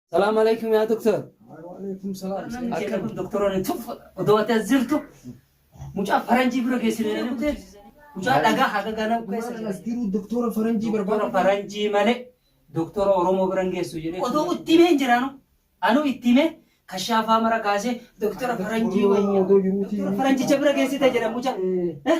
Salaam alaikum yaa doktor. Waalaikum salaam. Akkam doktoroonni tuf odoo ati as jirtu mucaa faranjii bira geessine jedhanii kutee mucaa dhagaa haga gana keessa Maal as jiru doktora faranjii doktora barbaada. faranjii malee doktora oromoo bira hin geessu jedhee odoo itti himee hin jiraanu anuu itti himee kashaafaa mara kaasee doktora faranjii wayya doktora faranjicha bira geessite jedha mucaa. Eh,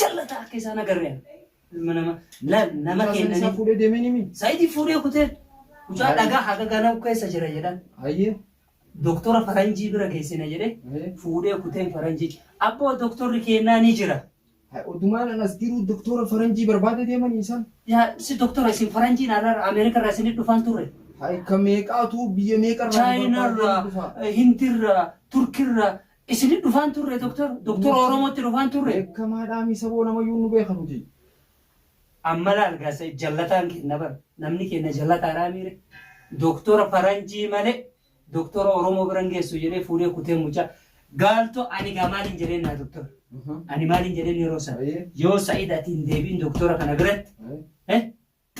Jallata akka isaan agarreen. Ilma nama la- nama Mucaa san isaa kennanii. fuudhee deemee ni mii? Saayidii fuudhee kutee mucaa Baay'ee. dhagaa haga ganaa keessa jira jedhan. Ayyee. Doktora faranjii bira geessina jedhee Ayyee. fuudhee kuteen faranjii. Abboo doktorri kennaa ni jira. Haa, Odumaan an as jiruu doktora faranjii barbaada deemanii isaan. Yaa si doktora isin faranjiin alaarra Ameerika irraa isinit dhufan turre. Haa, ka meeqaatu biyya meeqarraa Chaayinarraa, Hindirraa, Turkirraa Isini dhufaan turre Doktar. Doktar Oromo itti dhufaan turre. Beekamaa dhaa mii saboo nama yuu nu beeka nuti. Amma laal gaa said jallataan keenna bar namni keenna jallataa dhaa mii re Doktora faranjii male Doktora Oromo bira hin geessu jedhee fuudhee kutee mucaa gaalto ani gaa maalin jedheen naa Doktar ani maalin jedheen yeroo san yoo said ati hin deebiin Doktora kana biratti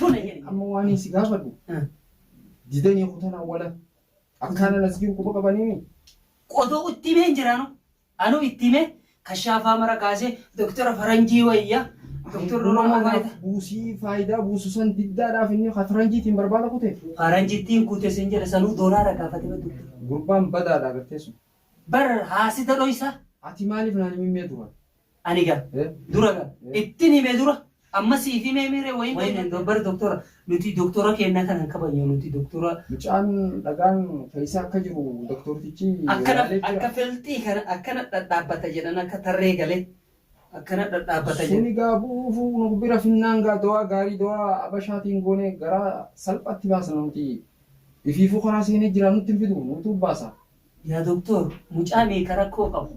Tole jedhe. Amma waaniin si gaafadhu, didanii kutan awwala akkaana nasgiin quba qabanimi? Odoo itti himee hin jiraanu. Anuu itti himee kashaafaa mara kaasee doktora faranjii wayya doktorri Oromoo Oromoo anaaf faayida. buusii faayidaa buusu san diddaadhaaf inni ka faranjiitiin barbaada kute. Faranjittiin kute sin jedhe sanuu doolaara gaafate baddu. Gurbaan badaadha agartee sun. Bar haasida dhoysa. Ati maaliif naan himimmee duraan? Ani ga. Dura ga. Ittin hime dura. Amma siif himee mii ree wayin wayin hin bar doktora nuti doktora keenna kana hin kabajnu nuti doktora. Mucaan dhagaan keessa akka jiru doktortichi Akkana ilaalee jira. akka felxii kana akkana dhadhaabbata jedhan akka tarree galee akkana dhadhaabbata jedhan. Suni gaa bu'uufu nu bira finnaan gaa dawaa gaarii dawaa abashaatiin goonee garaa salphaatti baasna nuti ifiifuu karaa seenee jira nutti hin fidu nutu baasa. Yaa doktor mucaa meeqa rakkoo qabu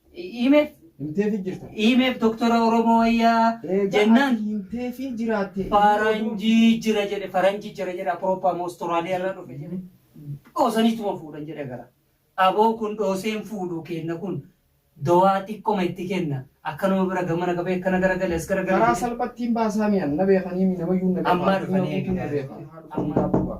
Himeef Himteefi jirta. himeef doktora Oromoo wayyaa Egaa jennaan ati himteefi jiraatte. faranjii jira jedhe faranjii jira jedhe Apurooppaa moo Ostiraaliyaa irraa dhufe jedhe dhoosaniituma fuudhan jedhe gara. Aboo kun dhooseen fuudhu kenna kun dawaa xiqqoma itti kenna akkanuma bira gamana qabee akkana garagale as garagale Karaa jedhe. salphattiin baasaa mi'an na beekanii mi namayyuu na beekaa. Ammaa dhufanii Addunyaa guutuun na eegaa. beekaa. Ammaa. Ammaa.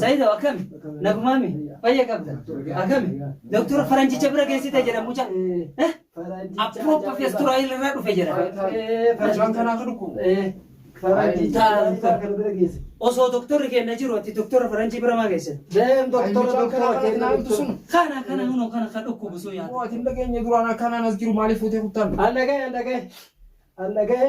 Sayido akkami? Nagumaami? Fayya qabda? Akkami? Doktora faranjicha bira geessite jedha muca. Eh? Appropa festuraayil irraa dhufe jedha. Mucaan kanaa akka dhukkubu. Osoo doktorri keenya jiru ati doktora faranjii bira maa geesse? Deem doktora doktora keenya sun. Kana kana hunoo kana kan dhukkubu sun yaada. Mootiin dhageenya duraan akkanaan as jiru maaliif fuutee kuttaan? Allagee allagee allagee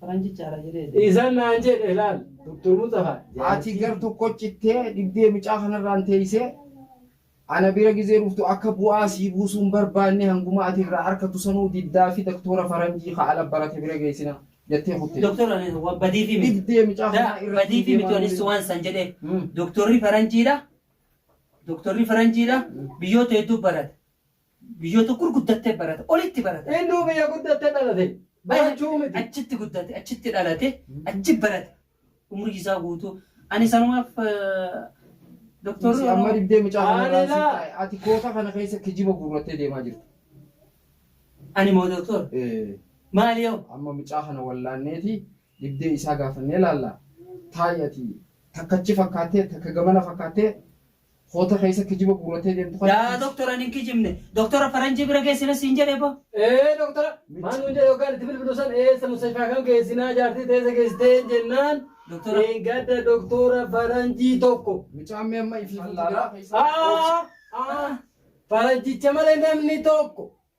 Faranjichaadha jedhee deema. Isa naan jedhe laal Doktor Mustafa. Haati gar tokko cittee dhibdee mucaa kanarraan teessee ana bira gizee dhuftu akka bu'aa sii buusuu hin barbaanne hanguma ati irraa arkatu sanuu diddaa fi doktora faranjii ka ala barate bira geessina jettee kutte. Doktor ani wa- badiifi miti. Dhibdee mucaa Da, kanaa irra badiifi fiigee miti waan anis waan san jedhee. Hmm. Doktorri faranjiidha. Doktorri faranjiidha. Biyyoota hedduu barate. Biyyoota gurguddattee barata. Olitti barata. Innuu biyya guddatte dhalate. Barachuu miti. Achitti guddate, achitti dhalate, achi barate. Umrii isaa guutuu. Ani sanumaaf doktorri Si amma Oromoo dibdee mucaa kana irraa Anilaa. si taa'e. Ati koota kana keessa kijiba guurrattee deemaa jirta. ani moo doktor Eh, maali yoo? Amma mucaa kana wallaanneeti dibdee isaa gaafannee laalla. Taa'i ati takkachi fakkaattee takka gamana fakkaattee Koota keessa kijiba guurrattee deemtu kana. Yaa doktor ani hin kijibne. Doktora faranjii bira geessina siin jedhe bo. Ee doktora maal nuun jedhe yookaan itti bilbilu san eessa mustashfaa kam geessinaa jaartii teessa geessiteen jennaan. Doktora. Dheengadda doktora faranjii tokko. Mucaan mee amma ifiifuu Aa! Aa! Faranjicha malee namni tokko.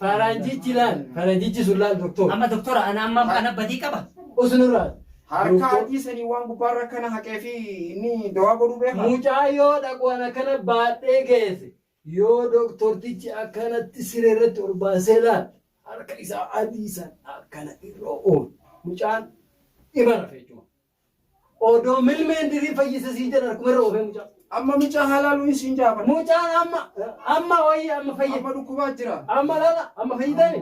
Faranjichi laal faranjichi sun laal doktor. Amma doktora ana amma ana badii qaba. Usu nurraa. Harkaa adii sanii waan gubbaarra akkana haqee fi inni dawaa godhuu beekaa? Mucaa yoo dhaqu an akkana baadhee geese yoo doktortichi akkanatti siree irratti ol baasee laal harka isaa adii san akkana irra oof mucaan ima rafe jechuma. Odoo milmeen dirii fayyisa siin jedhan harkuma irra oofee mucaa. Amma mucaa halaaluu hin siin jaafan. Mucaan amma amma wayii amma fayya. Amma dhukkubaa jira. Amma lala amma fayyitani.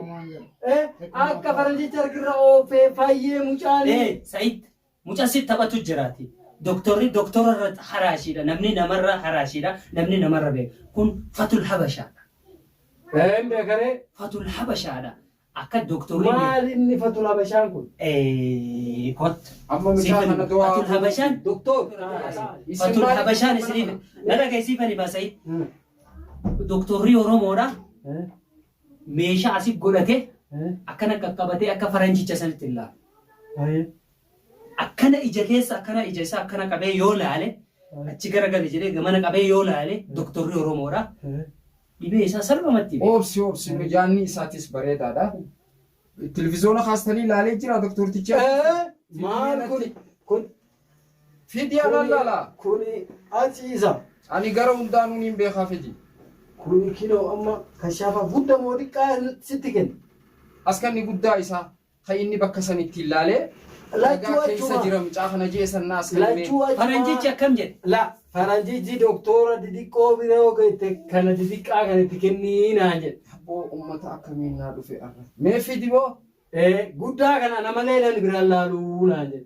Eh akka faranjicha harkirra oofee fayyee mucaan. Eh Said mucaa si taphatu jiraati. Doktorri doktora irra haraashiidha. Namni namarra haraashiidha. Namni namarra beeka. Kun fatul habashaadha. Eh hin beekaree. Fatul habashaadha. Akka Doktorri beeku. Maal inni fatul habashaan kun. Eeyyii kot. Amma mucaa Siifan kana to'aa. fatul habashaan. Doktor. Fatul habashaan isiniif. Na dhagahi siifan himaa Sayid. Doktorri Oromoodha. Meeshaa asi godhatee akkana qaqqabatee akka faranjicha sanitti hin laalu. akkana ija keessa akkana ija isaa akkana qabee yoo laale achi garagale jedhee gamana qabee yoo laale doktorri Oromoodha. dhibee isaa salphumatti beeka. Obsi obsi mijaanni isaatis bareedaadha. Televiziyoona kaastanii ilaalee jira doktortichi. Ee, maal kun kun Fidii anaan laala. kuni ati isa Ani gara hundaanuun hin beekaa fidii. kuni kinoo amma kashaafa gudda moo xiqqaa sitti kenna. Askanni guddaa isaa. Hay inni bakka san itti hin laalee Lachuu Ragaa keessa achuma. jira mucaa kana jee san naas kan himee. Lachuu achuma. Faranjichi akkam jedhe? La faranjichi doktoora didiqqoo bira yoo geette kana didiqqaa kan itti kennii naan jedhe. Abboo ummata akkamiin naa dhufe arra. Mee fidi boo. Ee guddaa kana ana malee namni biraan laaluu naan jedhe.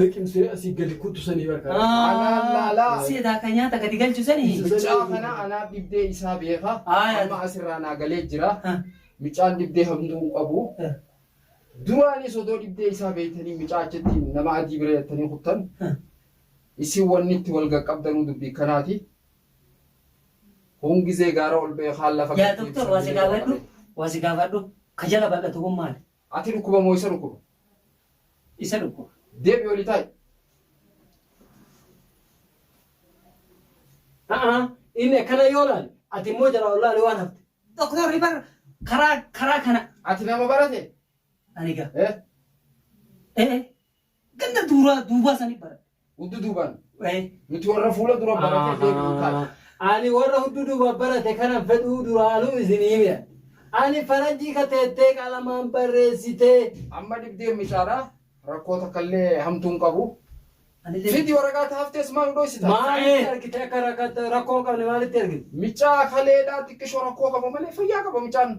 liqimsee asii gadi kuttu sanii barkaa. Anaan laalaa. Si edaa ka nyaata gadi galchu sani. Mucaa kana anaa dhibdee isaa beeka. Aayaa. Amma asirraa naa galee jira. Ha. Mucaan dhibdee hamtuu hin qabu. Ha. Duraanis odoo dhibdee isaa beektanii mucaa achitti nama adii bira yattanii kuttan. Ha. Isin wanni itti wal gaqqabdanuu dubbii kanaati. Kun gizee gaara ol ba'e kaan lafa Yaa gad doktor deebisanii waa si yeroo gaafadhu. qabe. Waa si gaafadhu. Ka jala bal'atu kun maali? Ati dhukkuba moo isa dhukkuba? Isa dhukkuba. Deebi'i oli taa'i. A'a, inni akkana yoo laale, ati immoo jalaa ol laale waan hafte. Doktorri bar karaa karaa kana. Ati nama barate? Ani gaa. Eh? Ee, Ganda duuraa duubaa sanii baradhe. Huddu duubaan. Ee. Nuti warra fuula dura baratee deebi'u taate. Ani warra huddu duuba barate kanan fedhuu duraanuu isin hime. Ani faranjii ka teettee qalamaan barreessitee. Amma dhibdeen micaadha. Rakkoo takkallee hamtuu hin qabu. Anillee. Fidi waraqaa ta haftees maa nu dhoysita? Maalitti argite akka rakkatta rakkoo hin qabne maalitti argite? Micaa kaleedhaa xiqqishoo rakkoo qaba malee fayyaa qaba micaan.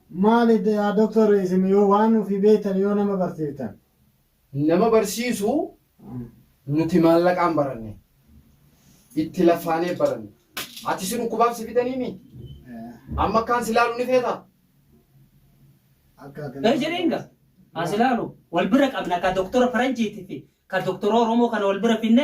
Maali yaa doctor isin yoo waan ufii beeytan yoo nama barsiiftan. Nama barsiisu nuti maallaqaan baranne. Itti laffaanee baranne. Ati si dhukkubaaf si bitanii mii? Amma akkaan si laalu ni feetaa? Akka ati Ee jedheen gaa. As ilaalu wal bira qabna ka doktora faranjiiti fi ka doktora Oromoo kana wal bira finne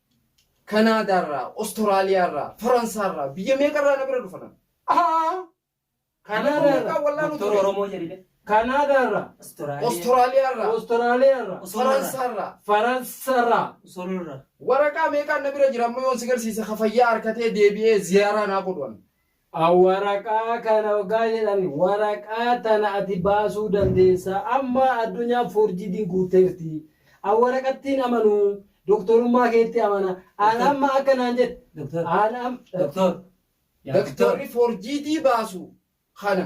Kanaadaa irraa, Ostoraliyaa irraa, Faransaa irraa, biyya meeqa irraa na bira dhufan. Haa! Kanaadaa irraa, Doktor Oromoo jedhime. Kanaadaa irraa, Ostoraliyaa irraa, Ostoraliyaa irraa, Faransaa irraa, Faransa irraa. Usoloo irraa. Waraqaa meeqaan na bira jira amma yoon si garsiise ka fayyaa harkatee deebi'ee ziyaaraa naa godhu an. a Waraqaa kana oggaa jedhan waraqaa tana ati baasuu dandeessa amma addunyaan foorjiidiin guutteerti an waraqattiin amanu doktorummaa keetti amana an Doktor. amma akka naan jedhe Doktor. an am Doktor. Yaa doktor. Doktorri foorjiidii baasu kana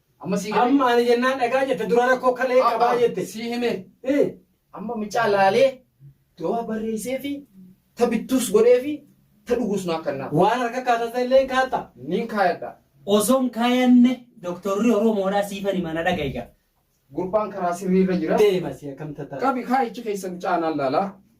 Amma sii galee. Amma ani jennaan dhagaa jette dura rakkoo kalee qabaa jette. Sii hime. Eh, Amma micaa laalee dawaa barreessee fi ta bittuus godhee fi ta dhuguus naa kannaa. Waan harka kaatata illee hin kaatta. Niin kaayadha. Osoon kaayanne doktorri Oromoodhaa siifan hima na dhaga'i gaa. Gurbaan karaa sirriirra jira. Deema si akkam tata. Qabi kaayichi keessa mucaa naan laalaa.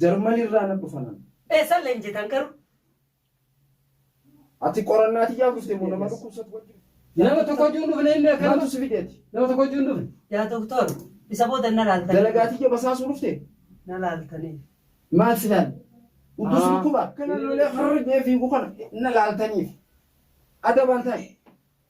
Jarmani irraa nan dhufan an. Eessan leenjitan garuu? Ati qorannaa tiyyaaf dhufte moo nama dhukkubsatu wajjin dhufte? Nama tokko wajjin hin dhufne inni akkana. Maaltu si fideeti? Nama tokko wajjin hin dhufne. Yaa doktor, isa booda na laaltanii. Dalagaa tiyya basaasuu dhufte? Na laaltanii. Maal si laalle? Utuu si dhukkuba? Kana lolee har'a jee fiigu kana na laaltaniif. Adabaan taa'e.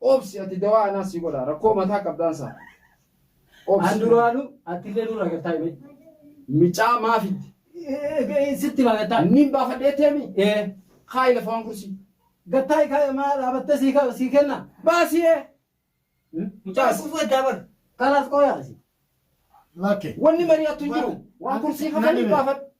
Obsi ati dawaa anaa sii godhaa rakkoo mataa qabdaan saa obsi. An duraanu attillee nurra gattaa himee. Micaa maa fidde. Sitti maa gattaa. Nin baafadhee teemi. Ee. Kaayi lafa waan kursii. Gattaa ikaaya maa dhaabattee sii ka sii kenna. Baasii ee. Mucaa as. Kufuu eddaa bar. Kalaas qooyaa asi. Lakke. Wanni mari'attu hin jiru. Waan kursii kana nin baafadha.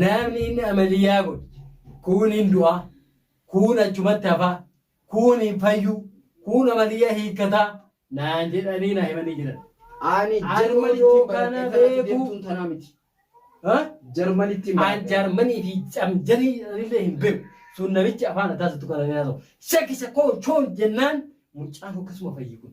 Namni inni amaliyyaa godhe kuun hin du'aa, kuun achumatti hafaa, kuun hin fayyuu, kuun amaliyyaa hiikkataa naan jedhanii naa himanii jiran. Ani Ani Jarmanitti odoo hin baradhe kana kanatti beeku. deemtuun tanaa miti. Ha? Jarmanitti hin An baradhe. Jarmanii fi camjarii illee hin beeku. Sun namichi afaan addaa isattu kana hin haasa'u. Shakkisa koo choon jennaan mucaan akkasuma fayyi kun.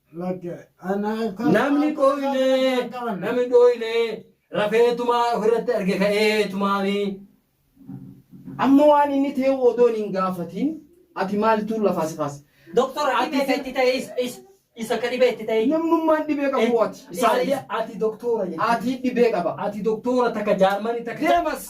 Namni dhooyne namni dhooyne rafeetumaa ofirratti arge ka'eetumaani. Amma waan inni ta'e odoon hin gaafatiin ati maaltu lafaa si kaase? Doktor ati Ati- beeka itti ta'e is- is- isa ka dhibee itti ta'e. Namnummaan dhibee qabu ati. Ati Isaa ati doktoora jechuudha. ati dhibee qaba. Ati doktoora takka jaarmanii takka. Deemas.